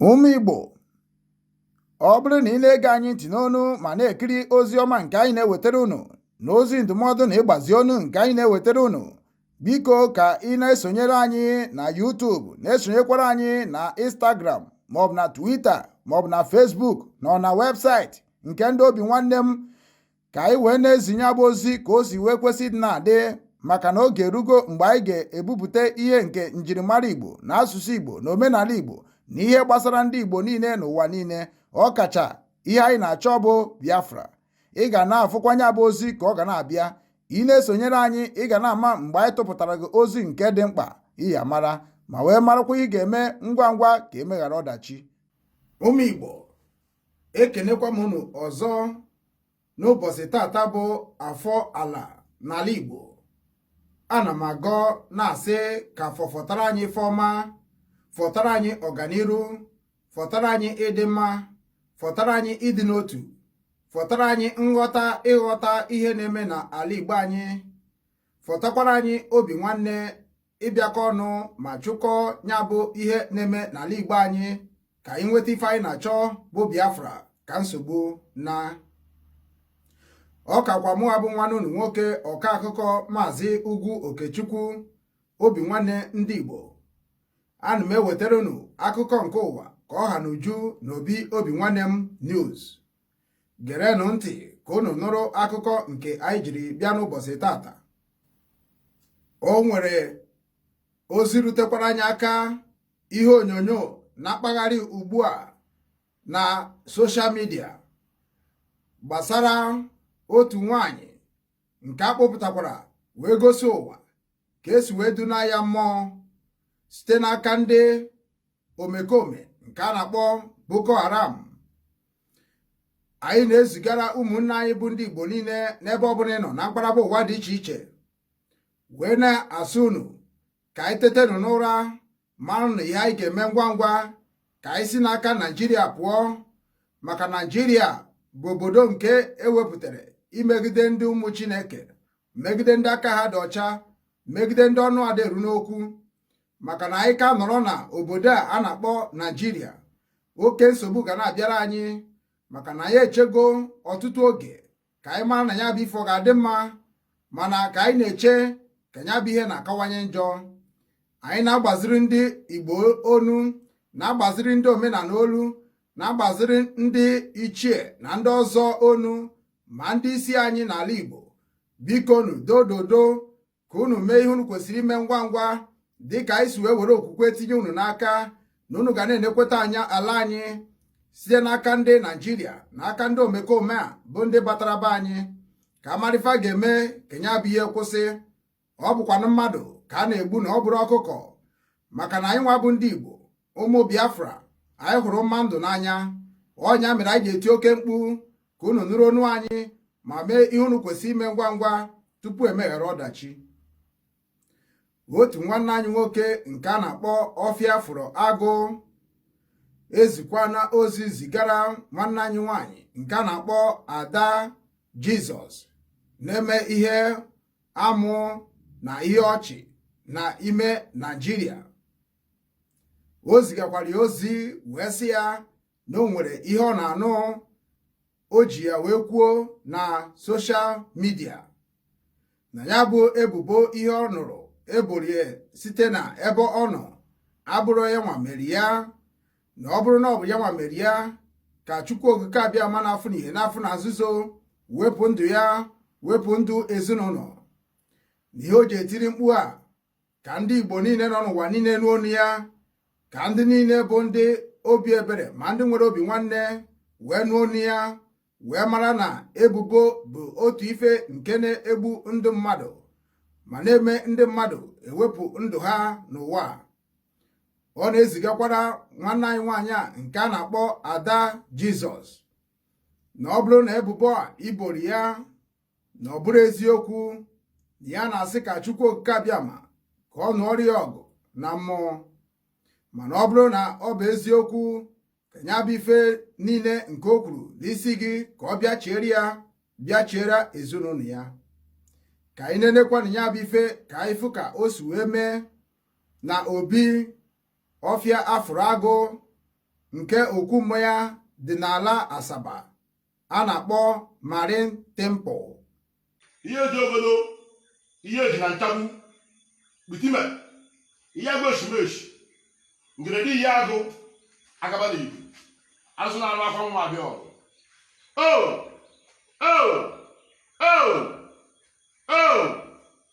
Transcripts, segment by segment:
Ụmụ Igbo ọ bụrụ na ị na-ege anyị ntị n'onu ma na-ekiri ozi ọma nke anyị na-ewetara unu na ozi ndụmọdụ na ịgbazi onu nke anyị na-ewetara unu biko ka ị na-esonyere anyị na YouTube na-esonyekwara anyị na Instagram maọbụ na Twitter maọbụ na Facebook na ọ na webụsaịtị nke ndị obi nwanne m ka anyị wee na-ezi nya bụ ozi ka o si wee kwesị ịdị na-adị maka na oge erugo mgbe anyị ga-ebupụta ihe nke njirimara Igbo na asụsụ Igbo na omenala Igbo na ihe gbasara ndị Igbo niile n'ụwa niile ọkacha ihe anyị na-achọ bụ Biafra ị ga na-afụkwa nya bụ ozi ka ọ ga na-abịa ị na-esonyere anyị ị ga na-ama mgbe anyị tụpụtara gị ozi nke dị mkpa ị ya-amara ma wee marakwa ihe ị ga-eme ngwa ngwa ka e meghara ọdachi ụmụ Igbo ekenekwa m unu ọzọ n'ụbọsị tata bụ afọ ala n'ala Igbo ana m agọ na-asị ka afọ fọtara anyị ife ọma fọtara anyị ọganiru fọtara anyị ịdị mma fọtara anyị ịdị n'otu fọtara anyị nghọta ịghọta ihe na-eme na ala Igbo anyị fọtakwara anyị obi nwanne ịbịakọ ọnụ ma chụkọọ ya bụ ihe na-eme n'ala Igbo anyị ka anyị nweta ife anyị na-achọ bụ Biafra ka nsogbu naa ọ kakwa mụwa bụ nwanne unu nwoke ọka akụkọ maazị Ugwu Okechukwu obi nwanne ndị Igbo ana m ewetara unu akụkọ nke ụwa ka ọ ha n'uju na obi obi nwanne m news gerenụ ntị ka unu nụrụ akụkọ nke anyị jiri bịa n'ụbọsị tata o nwere ozi rutekwara anyị aka ihe onyonyo na-akpagharị ugbu a na soshal midia gbasara otu nwanyị nke a kpọpụtakwara wee gosi ụwa ka e si wee dunaa ya mmụọ site n'aka ndị omekome nke a na-akpọ Boko Haram anyị na-ezigara ụmụnne anyị bụ ndị Igbo niile n'ebe ọbụla ị nọ na mkparaba ụwa dị iche iche wee na-asị unu ka anyị tetenụ n'ụra marụnụ ihe anyị ga-eme ngwa ngwa ka anyị si n'aka Naijiria pụọ maka Naijiria bụ obodo nke e wepụtara imegide ndị ụmụ Chineke megide ndị aka ha dị ọcha megide ndị ọnụ ada eru n'okwu maka na anyị ka nọrọ na obodo a a na-akpọ Naijiria oke nsogbu ga na-abịara anyị maka na anyị echego ọtụtụ oge ka anyị mara na ya bụ ife ọ ga-adị mma mana ka anyị na-eche ka ya bụ ihe na-akawanye njọ anyị na-agbaziri ndị Igbo onu na-agbaziri ndị omenala olu na-agbaziri ndị ichie na ndị ọzọ onu ma ndị isi anyị n'ala Igbo bikonu dododo ka unu mee ihe unu kwesịrị ime ngwa ngwa dị ka anyị si wee were okwukwe tinye unu n'aka na unu ga na-enekweta anya ala anyị site n'aka ndị naijiria na aka ndị omekome a bụ ndị batara be anyị ka a mara ife a ga-eme ka ya bụ ihe kwụsị ọ bụkwanụ mmadụ ka a na-egbu na ọ bụrọ ọkụkọ maka na anyị nwa bụ ndị Igbo ụmụ Biafra anyị hụrụ mma ndụ n'anya ọ nya mere anyị ji eti oke mkpu ka unu nụrụ onu anyị ma mee ihe unu kwesị ime ngwa ngwa tupu emeghara ọdachi otu nwanne anyị nwoke nke a na-akpọ ọfịa afụrụ agụ ezikwana ozi zigara nwanne anyị nwanyị nke a na-akpọ ada jizọs na-eme ihe amụ na ihe ọchị na ime naijiria o zigakwara ya ozi wee sị ya na o nwere ihe ọ na-anụ o ji ya wee kwuo na soshal midia na ya bụ ebubo ihe ọ nụrụ e boro ya site na ebe ọ nọ abụrọ ya nwa mere ya na ọ bụrụ na ọ bụ ya nwa mere ya ka Chukwu Okike Abịama na-afụ n'ihe na-afụ na nzuzo wepụ ndụ ya wepụ ndụ ezinụlọ na ihe o ji etiri mkpu a ka ndị Igbo niile nọ n'ụwa niile nụ onu ya ka ndị niile bụ ndị obi ebere ma ndị nwere obi nwanne wee nụ onu ya wee mara na ebubo bụ otu ife nke na-egbu ndụ mmadụ ma na-eme ndị mmadụ ewepụ ndụ ha n'ụwa ọ na-ezigakwara nwanne anyị nwaanyị a nke a na-akpọ ada jizọs na ọ bụrụ na ebubo a e boro ya na ọ bụrọ eziokwu na ya na-asị ka Chukwu Okike Abịama ka ọ nụọrọ ya ọgụ na mmụọ mana ọ bụrụ na ọ bụ eziokwu ka ya bụ ife niile nke o kwuru n'isi gị ka ọ bịa chiere ya bịa chiere ezinụlọ ya ka anyị nenekwanụ ya bụ ife ka anyị fụ ka o si wee mee na obi ọfịa afụrụ agụ nke okwu mmụọ ya dị n'ala Asaba a na-akpọ Marine Temple ihe ji obodo ihe ji na nchagbu bitime ihe agụ eshimeshi ngeredi ihe agụ agaba na ibu azụ na anụ akwa nwa abịa ọgụ o o o o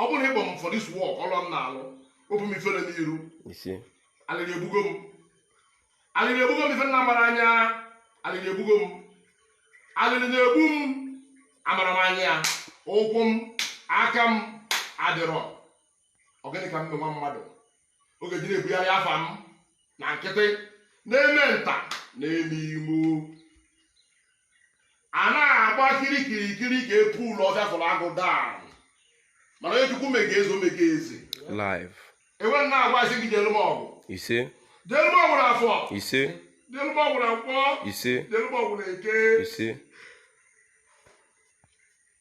ọ bụrụ na ịkpọ m for this work ọrụ m na-alụ obu m ifere n'iru ise alịlị egbugo m alịlị egbugo m ife m na-amarọ anya alịlị egbugo m alịlị na-egbu m amarọ m anya ya ụkwụ m aka m adịrọ ọ gịnị ka m mee nwa mmadụ oge ji na-ebugharị afa m na nkịtị na-eme nta na-eme imo a na-agba kirikirikiri ka epu ụlọ ọbịa fụrụ agụ daa mana onye chukwu mego eze o mego eze live enwe m na-agwazi gị jere m ọgụ ise jere m ọgụ na afọ ise jere m ọgụ na nkwọ ise jere m ọgụ na eke ise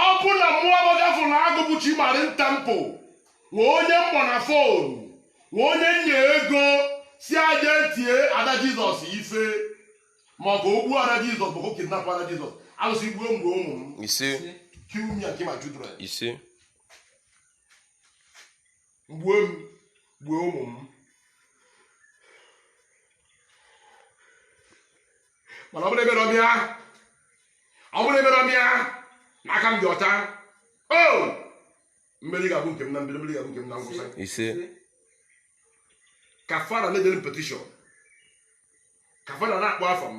ọ bụ na mụọ gbagafụ na agụ bụ Chi Marine Temple nwe onye m kpọ na fon nwe onye nye ego sị ya je tie ada jizọs ife ma ọ bụ gbuo ada jizọs bụ kidnap ada jizọs alụsị gbuo m gbuo ụmụ m ise kill me and kill my children ise gbuo m gbuo ụmụ m mana ọ bụrụ ebere ọbịa ọ bụrụ ebere ọbịa na aka m dị ọcha o mmeri ga-abụ nke m na mbido mmeri ga-abụ nke m na ngwụsị ise ka fa ra na-edere m petishọn ka fa ra na-akpọ afa m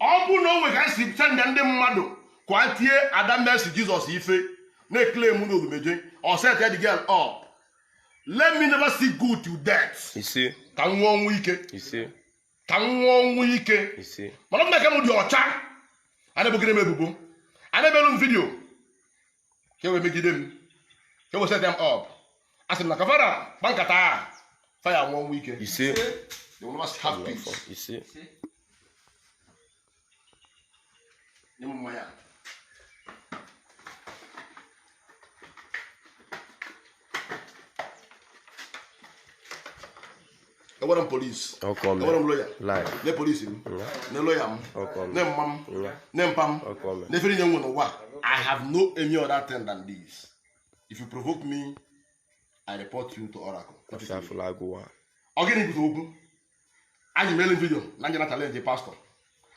ọ bụ na o nwe ka m si senda ndị mmadụ ka a tie ada Mercy Jizọs ife na-ekele m na odumeje or set the girl up let me never see good to death ise ka m nwụọ ọnwụ ike ise ka m nwụọ ọnwụ ike ise mana ma aka m dị ọcha a na-ebogide m ebubo a na-emelu m vidiyo ka e wee megide m ka e wee set m up a sị m na ka fa ra gba nkata a fa ya nwụọ ọnwụ ike ise They will not have peace. ise Nye m mmanya. enwerọ m polisi enwerọ m loya ne polisi m ne loya m ne mma m ne mpa m ne ife niine m nwe n'ụwa i have no any other thing than this if you provoke me i report you to oracle ọ gịnị bụ okwu anyị mere vidio na m je na-achallenge pastọ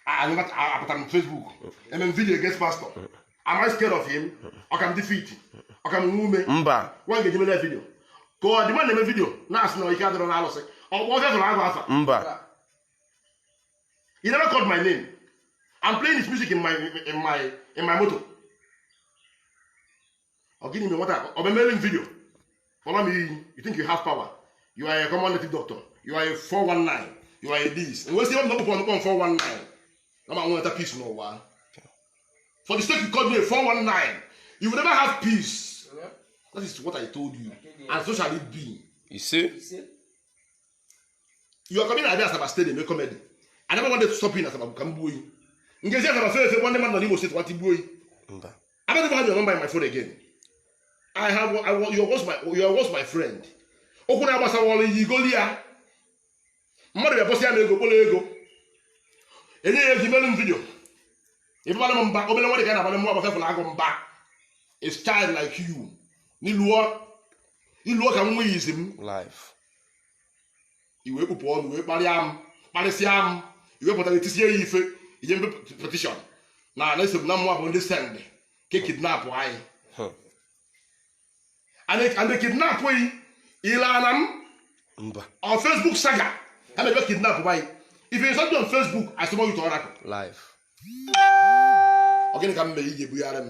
anyị apụtara m fesbuk eme m vidio against pastọ am I scared of him ọ ka m dị fit ọ ka m nwe ume mba nwa ga-eji mere vidio ka ọ dị ma na-eme vidio na-asị na ike adịrọ na alụsị ọ kpọ ọbịa zụrụ agụ afa mba he never called my name I'm playing his music in my in my in my motor ọ gịnị mere nwata ọ bịa mere m vidio kpọrọ m iyi you think you have power you are a common native doctor you are a 419 you are a this m wee sị ebe m na ọ bụkwa ọnụ kpọ m 419 na ọ ma nweta peace n'ụwa for the sake you called me a 419 you will never have peace that is what i told you and so shall it be ise you are coming abịa asaba stadium eme comedy I never wanted to stop you in asaba ka m gbuo yi m ga-esi asaba fee efe nwanne mmadụ nọ n'imo steeti nwata igbuo yi mba I don't even have your number in my phone again. I have I want you was my you was my friend. Okwu na-agbasa wọlụ yi igoli ya. Mmadụ bịa post ya na ego kpọrọ ego. E nye ya e ji melu m vidio. Ịbabara m mba obere nwa dị ka na-abara mụwa bụ ọfịa fụlụ agụ mba. It's child like you. N'iluọ iluọ ka nwa izi m. life i wee kpụpụ ọnụ wee kparịa m kparịsịa m i wee pụtara etisie ya ife i je mee petishọn na na-asị na mụnwa bụ ndị sendị ka e kidnapụa yi and they kidnap yi ilana m mba on facebook saga and they just kidnap by if you insult me on facebook i summon you to oracle live ọ gịnị ka m mere i ji ebugharị m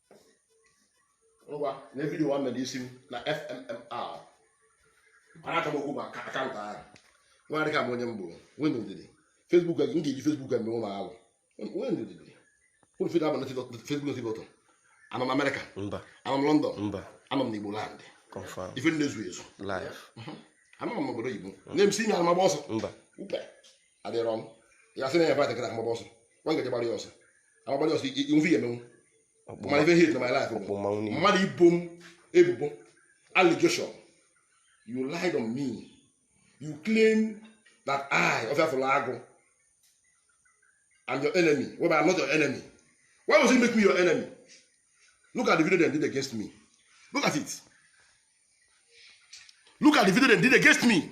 ngwa nee vidio nwa mere isi m na fmmr mana aka m okwu ma akaụntụ ahụ nwa adịka m onye mbụ nwee ndidi fesbuk m ga-eji fesbuk eme ụlọ alụ nwee ndidi ụlọ fida abụ na fesbuk na tiktọk anọ m amerịka anọ m lọndọn anọ m na igbo landị ife ndị ezu ezu anọ m n'obodo oyibo na-emesi ime anụ m agba ọsọ adịrọ m ya sị na ya invite m agbaba ọsọ nwa m ga-eji gbara ya ọsọ m gbara ya ọsọ ife ya emenwu mana ife m hate na my life bụ mmadụ ibo m ebubo allegation you lied on me you claim that I ọfịa fụrụ agụ I'm your enemy well I'm not your enemy why was he make me your enemy look at the video they did against me look at it look at the video they did against me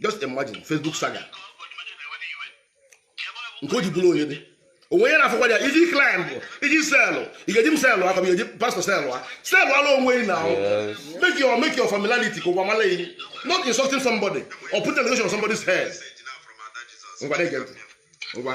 just imagine facebook saga nke o ji bụrụ onye dị onwe ya na-afụkwa ya iji klaịmbụ iji selụ ị ga-eji m selụ aka m ga-eji pastọ selụ a selụala onwe gị na make your make your familiarity ka ụwa mala yi not insulting somebody or put allegation on somebody's head ngwa na-ege ntị ngwa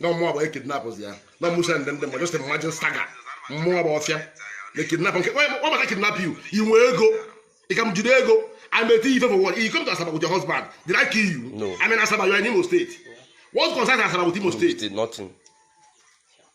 na mụwa bụ ekidnapụzi ya na mụ sendị ndị mmadụ just imagine saga mụwa bụ ọfịa na-ekidnap nke ọ maka kidnap you i nwe ego ị ka m jide ego I may tell you for what you come to Asaba with your husband did I kill you no. I'm in Asaba you are in Imo State what concerns Asaba with Imo State nothing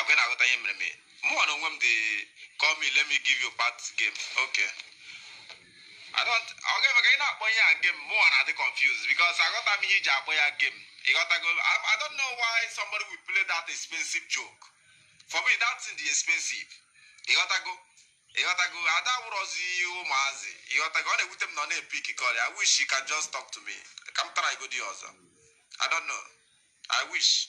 ọkwa ị na-aghọta ihe mere m mụnwa na onwe m they call me let me give you part game okay I don't ọ ga-eme ka ị na-akpọ ihe a game mụnwa na-adị confused because aghọta m ihe e ji akpọ ya game ịghọtago I, I don't know why somebody will play that expensive joke for me that thing dị expensive ịghọtago ịghọtago ada wụrọzi ụmụazị ịghọtago ọ na-ewute m na ọ na-epick call I wish you can just talk to me ka m try godi ọzọ I don't know I wish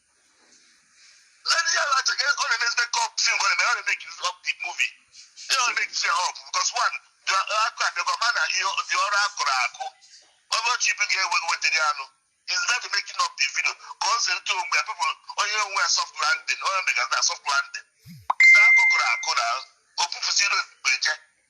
Lady ya lacha ka ọ na-eme ezigbo kọp si ngwa na ọ na-emake up the movie. Ya ọ na-emake up because one dị akụ abịakwa ma na ihe dị ọrụ akụrụ akụ. Ọnụ ọchị ibu ga-ewe wetara ya anụ. Is that making up the video? Ka ọ sị ntụ onwe ya pepụ onye onwe ya soft landing onye mega na soft landing. Saa akụkụrụ akụ na o pụpụsị ilu mgbe je.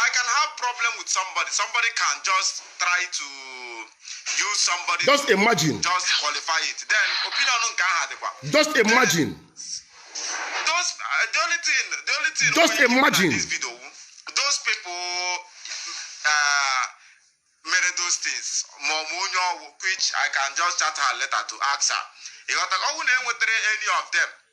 I can have problem with somebody. Somebody can just try to use somebody. Just to imagine. Just qualify it. Then opinion nke aha dịkwa. Just imagine. Those uh, the only thing the only thing. Just imagine. This video, those people. Uh, mere those things ma ọ bụ onye ọgwụ which I can just chat her letter to ask her. Ịghọta ọnwụ na enwetara any of them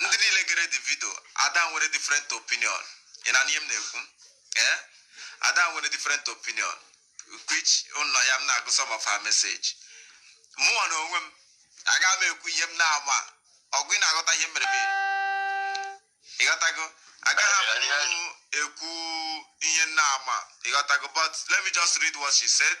ndị niile gere the video Ada nwere different opinion ị na-anụ ihe m na-ekwu ee Ada nwere different opinion which na ọ ya m na-agụ some of her message mụnwa na onwe m aga m ekwu ihe m na-ama ọkwa ị na-aghọta ihe mere m ịghọtago agaghị m ekwu ihe m na-ama ịghọtago but let me just read what she said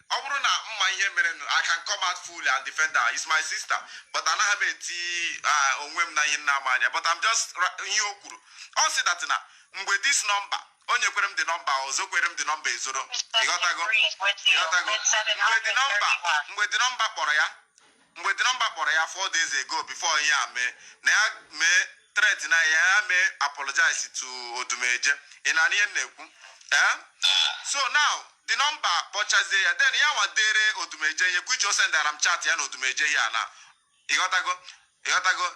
ọ bụrụ na m ma ihe merenụ I can come out fully and defend her is my sister but anaghị m eti onwe m na ihe m na-ama anya but I'm just ra- ihe o kwuru ọ sị that na mgbe this number o nyekwere m the number o zokwere m the number ezoro ịghọtago ịghọtago mgbe the number mgbe the number kpọrọ ya Mgbe the number kpọrọ ya four days ago before ihe a mee, na ya mee threat na ya mee apologize to Odumeje. Ị na-anụ ihe m na-ekwu? Eh? So now, the number kpọchazie ya, then ya nwa dere Odumeje ihe, which o sendara m chat ya na Odumeje ihe a na. Ị ghọtago? Ị ghọtago?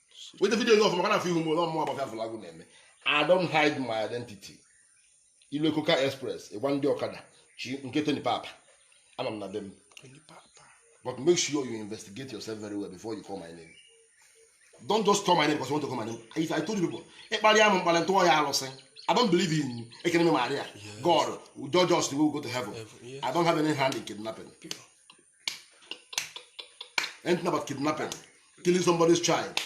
weta video gị ọfụma ka a na-afụ ihu m ụlọ mmụọ agbaka fụlagụ na-eme I don't hide my identity ilu ekoka express ịgwa ndị ọkada chi nke Tony Papa anọ m na be m but make sure you investigate yourself very well before you call my name don't just call my name because you want to call my name if I told you people ị kparịa m mkparị m tụọ ya alụsị I don't believe in Ekene Maria God will judge us to go to heaven I don't have any hand in kidnapping anything about kidnapping killing somebody's child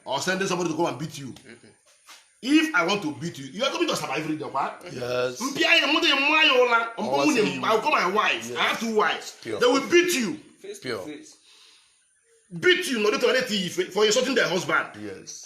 or sending somebody to come and beat you if i want to beat you you are coming to asaba every day kwa Yes. mpia ya mụta ya mma ya ụla mkpọ Ọwa nwunye sị m i will call my wife i have two wives Pure. they will beat you Face to Pure. face. beat you nọdụ tọrọ eti ife for insulting their husband Yes.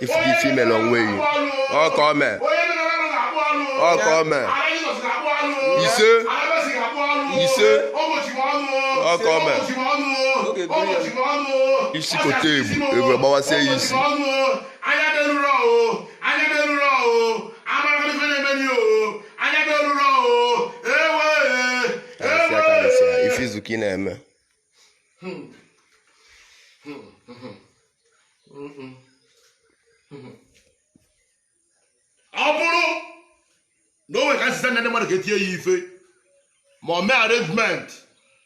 ị fụgo ife i mere onwe yi ọka ome ọka ome ise ise ọka ome isi kote ebu ebu gbawasie ya isi ife izu ka ị na-eme ọ bụrụ na o nwere ka e si senda ndị mmadụ ka e tie yi ife ma ọ mee arrangement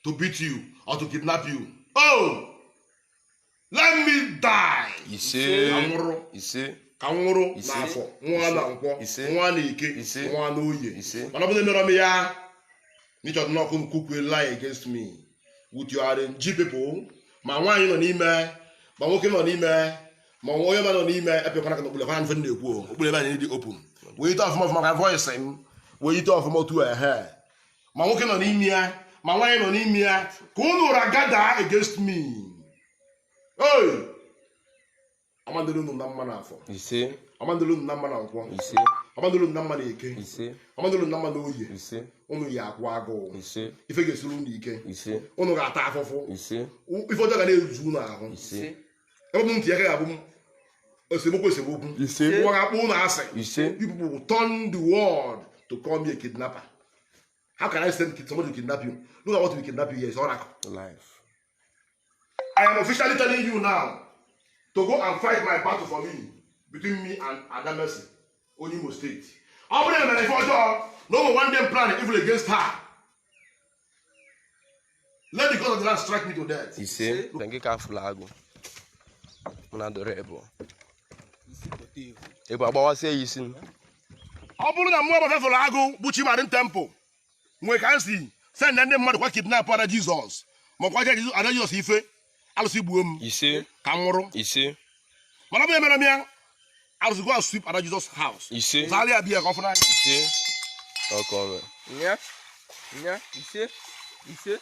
to beat you or to kidnap you oh let me die ise ka m nwụrụ ise ka m nwụrụ n'afọ nwụọ na nkwọ nwụọ na eke nwụọ na oye mana ọ bụrụ na emerọ m ya n'ịchọta n'ọkụ cook a lie against me with your RNG people ma nwaanyị nọ n'ime ma nwoke nọ n'ime ma onye ma nọ n'ime epekwana ka na okpule kwana mfe na-ekwu okpule ebe anyị dị open wee ite ọfụma ọfụma ka voice m wee ite ọfụma otu ehe ma nwoke nọ n'ime ya ma nwaanyị nọ n'ime ya ka unu ụra gather against me hey amadịrị unu na mma n'afọ ise amadịrị unu na mma na nkwọ ise amadịrị unu na mma na eke ise amadịrị unu na mma na oye ise unu ya-akwụ agụụ ise ife ga-esiri unu ike ise unu ga-ata afụfụ ise ife ọjọọ ga na-ezu unu ahụ ise ebe m ntị ya ga-abụ m esemokwu esemokwu ise ụwa ga-akpọ unu asị ise you people will turn the world to call me a kidnapper how can i send kid- somebody to kidnap you look at what will kidnap you here is oracle life i am officially telling you now to go and fight my battle for me between me and Ada Mercy onye imo state ọ bụrụ na emere m ife ọjọọ na mụ one day plan evil against her Let the God of the land strike me to death. Ise, na gị ka afụla agụ. Mụ na dọrọ ebu. Ebu agbawasịa ya isi m. Ọ bụrụ na mụ bụ Asa fụrụ agụ bụ Chi Marine temple nwee ka m si send ndị mmadụ ka ha kidnap Ada Jesus ma kwa Ada Jesus ife alụsị gbuo m ise ka m nwụrụ ise mana ọ bụ emerọ m ya alụsị go and sweep ada Jesus house ise zara ya bịa ka ọ fụ n'anya ise ọkọ ọrụ nya nya ise ise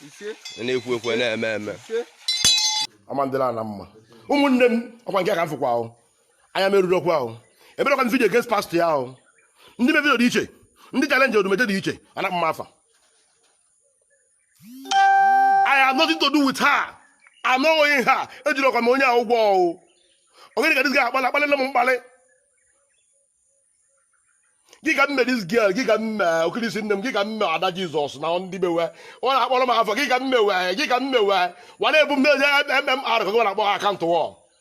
ise na-ekwu ekwu na-eme eme ise ọ ma adịrị ha na mma ụmụnne m ọkwa nke a ka m fụkwa ahụ anya merụrụ okwu ahụ emerọkwa m video against pastor ya ahụ ndị me video dị iche ndị challenge Odumeje dị iche ana mma afa I have nothing to do with her. I'm not owing her ejirọkwa m onye a ụgwọ o ọ gịnị ka this guy akpala akpalele m mkpalị gị ka m me this girl gị ka m me okirisi nne m gị ka m me Ada Jesus na ndị bewe ọ na-akpọrọ m afa gị ka m me we gị ka m me we wa na-ebu m na-eje mmr ka gị na-akpọ ha akaụntụ wọ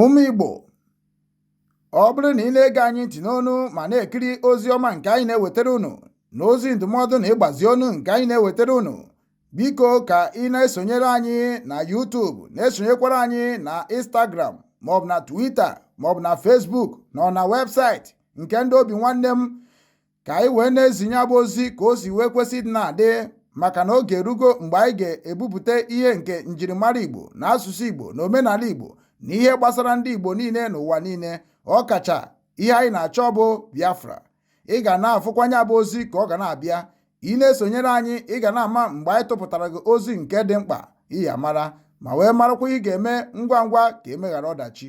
Ụmụ Igbo, ọ bụrụ na ị na-ege anyị ntị n'onu ma na-ekiri ozi ọma nke anyị na-ewetara unu na ozi ndụmọdụ na ịgbazi ọnụ nke anyị na-ewetara unu, biko ka ị na-esonyere anyị na YouTube na-esonyekwara anyị na Instagram maọbụ na Twitter maọbụ na Facebook na na webụsaịtị nke ndị Obinwannem ka anyị wee na-ezi ihe a bụ ozi ka o si wee kwesị ịdị na-adị maka na oge erugo mgbe anyị ga-ebupụta ihe nke njirimara Igbo na asụsụ Igbo na omenala Igbo na ihe gbasara ndị Igbo niile n'ụwa niile ọ kacha ihe anyị na-achọ bụ Biafra ị ga na-afụkwa ihe a bụ ozi ka ọ ga na-abịa ị na-esonyere anyị ị ga na-ama mgbe anyị tụpụtara gị ozi nke dị mkpa ị ya-amara ma wee marakwa ihe ị ga-eme ngwa ngwa ka e mee ghara ọdachi